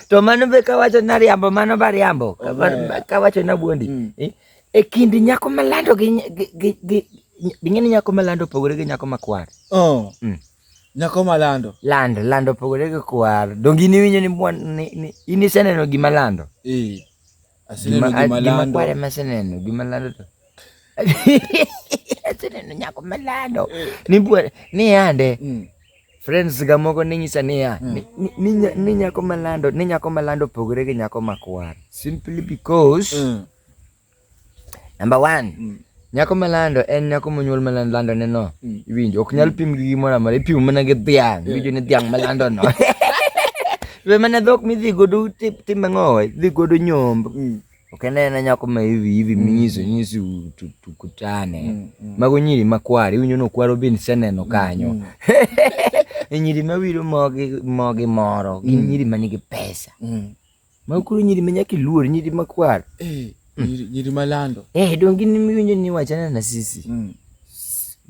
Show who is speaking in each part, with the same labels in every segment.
Speaker 1: to mano be kawacho na riambo mano ba riambo kawacho na buondi mm. eh, e kind nyako malando gi ging'e ni nyako malando opogore gi nyako makwar oh. mm.
Speaker 2: nyako malando lando lando opogore
Speaker 1: gi kwar donge iniwinjo ni in iseneno gima lando Aseneno
Speaker 2: gima lando. Kware maseneno
Speaker 1: gima lando to. Aseneno nyako malando. Eh. Ni bwere ni yande. Mm. Friends ga moko ni nyisa ni ya. Mm. Ni nyako malando, ni nyako malando pogore gi nyako makwar. Simply because mm. number 1. Nyako malando en nyako monyuol malando lando ne no. Mm. Iwinjo ok nyal pim gi gimoro amora, ipimo mana gi dhiang', eh. iwinjo ni dhiang' malando no. Be mana dhok midhi godo tim ang'o? Dhi godo nyomb. Mm. Ok en en nyako ma hivi hivi mm. minyiso nyisi tukutane. Mago nyiri makwar, iwinjo ni okwaro bin seneno kanyo. E nyiri mawiro mogi mogi moro, gin nyiri manigi pesa. Ma kuru nyiri ma nyaka iluor, nyiri ma kwar. Eh, nyiri, nyiri
Speaker 2: malando. Eh, donge in miwinjo
Speaker 1: ni wachana na sisi? Mm.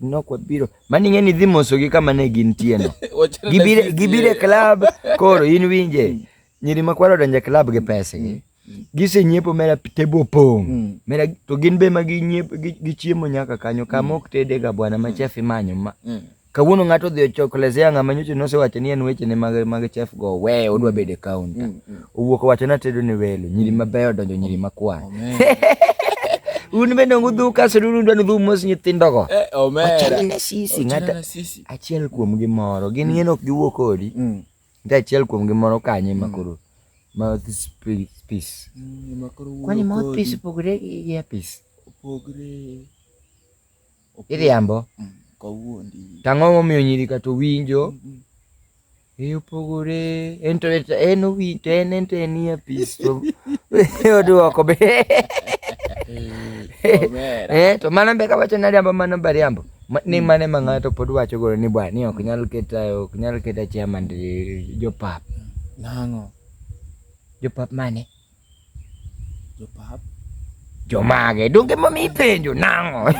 Speaker 1: Nok wabiro. Mani ng'e ni dhi mosogi kama ne gintie no. Wachana na Gibire, sisi. gibire club koro in winje. Nyiri ma kwar odonje club gi pesa gi. Gise nyiepo mera tebo opong'. Mm. Mera to gin be ma gi nyiepo gi, gi chiemo nyaka kanyo kama ok tede ga bwana ma chef imanyo ma. Mm. Kawuono ng'ato odhi ochoklezea ng'ama nyocha nosewacho ni en wechene mag mag chef go we odwa bedo e kaunta. Mm, mm. Owuok owacho na tedo ni welo, nyiri mm. mabeyo donjo nyiri makwa. Un bende ongu dhu kaso dun undwa nudhu mos nyithindo go. Eh, omera. na sisi ng'ata achiel kuom gi moro. Gin ng'en ok giwuo kodi. Nta achiel kuom gi moro kanye makoro. Mouthpiece. Kwani mouthpiece opogore gi earpiece? Opogore. Iriambo. Mm, kawuondi.
Speaker 2: Tang'o momiyo nyiri
Speaker 1: kata owinjo. Mm, mm. E opogore en to en owinjo to en en to en nie pis to oduoko be. Eh to mano be kawacho ni ariambo mano be ariambo. Ni mm. mane ma ng'ato pod wacho gore ni bwa ni ok nyal keta ok nyal keta chairman jopap. Nang'o? Jopap mane?
Speaker 2: Jopap.
Speaker 1: Jomage. Donge ma mi penjo nango.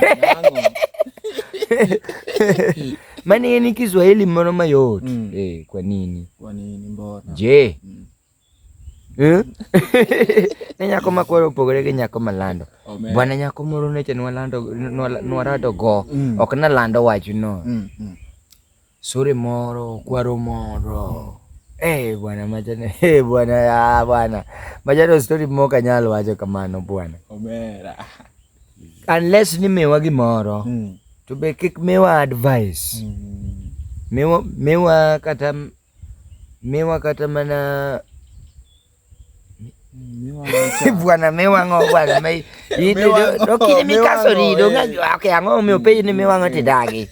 Speaker 1: Mani ni Kiswahili moro mayot. Mm. Eh, kwa nini? Kwa nini mbona?
Speaker 2: Je. Mm. Eh?
Speaker 1: ne nyako ma koro opogore gi nyako ma lando bwana nyako moro neche nwarado go mm. ok nalando wachno mm, mm. Sore moro kwaro moro eh bwana majana eh bwana ah bwana majana story moka nyalo wacho kamano bwana omera unless ni miwa gimoro mm. to be kik miwa advice mm. miwa, miwa kata miwa kata mana bwana miwang'o bwana me ine do kini mi kaso ri do nga ake ango mi ope ni miwang'o ti dagi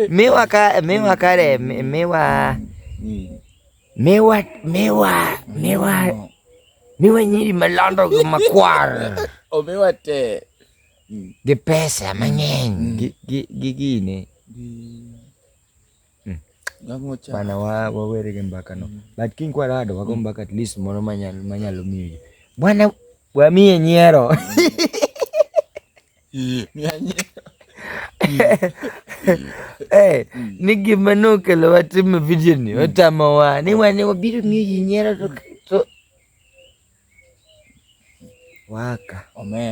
Speaker 1: miwa ka miwa kare miwa miwa miwa miwa miwa nyiri malando gi makwar o miwa te
Speaker 2: gi
Speaker 1: pesa mang'eny gi gi gine Hmm. Bana wa wawere ke mbaka no. Hmm. But king kwa rado wako hmm. mbaka at least mono manyalo manyalo miyo. Bwana wa mie nyero. Mie nyero. Eh, ni gima nokelo watimo video ni otamo wa ni wane wabiro ng'iyo ji nyiero to Waka. Amen.